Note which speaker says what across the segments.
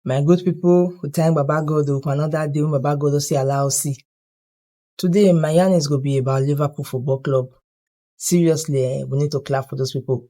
Speaker 1: My good people, we thank Baba God for another day when Baba God say allow us see. Today, my yarn is going to be about Liverpool Football Club. Seriously, eh, we need to clap for those people.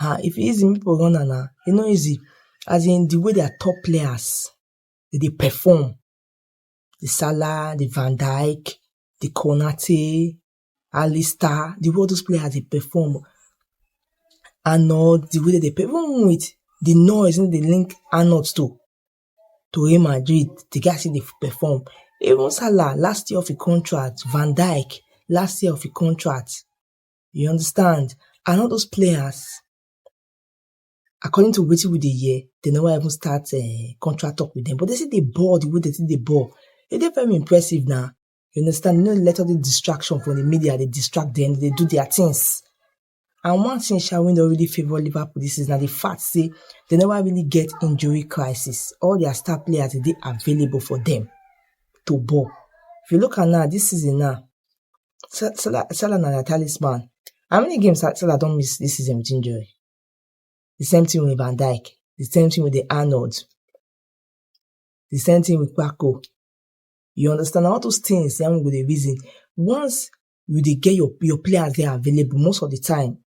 Speaker 1: um if e easy make people run am na, e no easy as in the way their top players dem dey perform, the Salah, the Van Dijk, the Konate, Alistair, the way all those players dey perform and or the way dem dey perform even with the noise wey dem dey link Anut to to Real Madrid, the guy still dey perform. Even Salah last year of e contract, Van Dijk last year of e contract you understand and all those players according to wetin we dey hear they never even start um, contract talk with them but they see the ball the way they see the ball e dey very impressive now you understand you no let all the distraction from the media they distract them they do their things and one thing sha wey don really favour liverpool this is na the fact say they never really get injury crisis all their star players dey available for them to ball if you look at now this season now Sa- Salah, Salah na their talisman. How many games Sa- Salah don miss this season with injury? The same thing with Van Dijk. The same thing with the Arnold. The same thing with Paco. You understand? All those things, then we go dey reason. Once you dey get your, your players there available most of the time,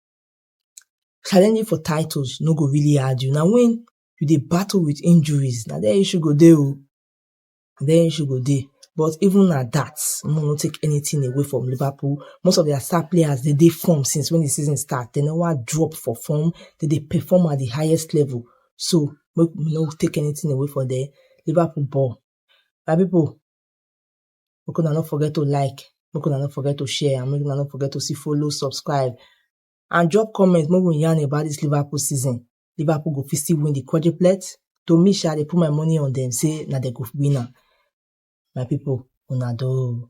Speaker 1: challenging for titles no go really hard you. Now when you dey battle with injuries, now there issue go dey o. then she go dey. But even at that, Mo no take anything away from Liverpool. Most of their star players they dey form since when the season start. They never drop for form. They dey perform at the highest level. So make we no take anything away from there. Liverpool ball. My people, make una no forget to like, make una no forget to share, and make una no forget to see follow, subscribe, and drop comment. Make we yarn about this Liverpool season. Liverpool go fit still win the quadruplet. To me, sha, they put my money on them, say, now they go win am. My people, una do.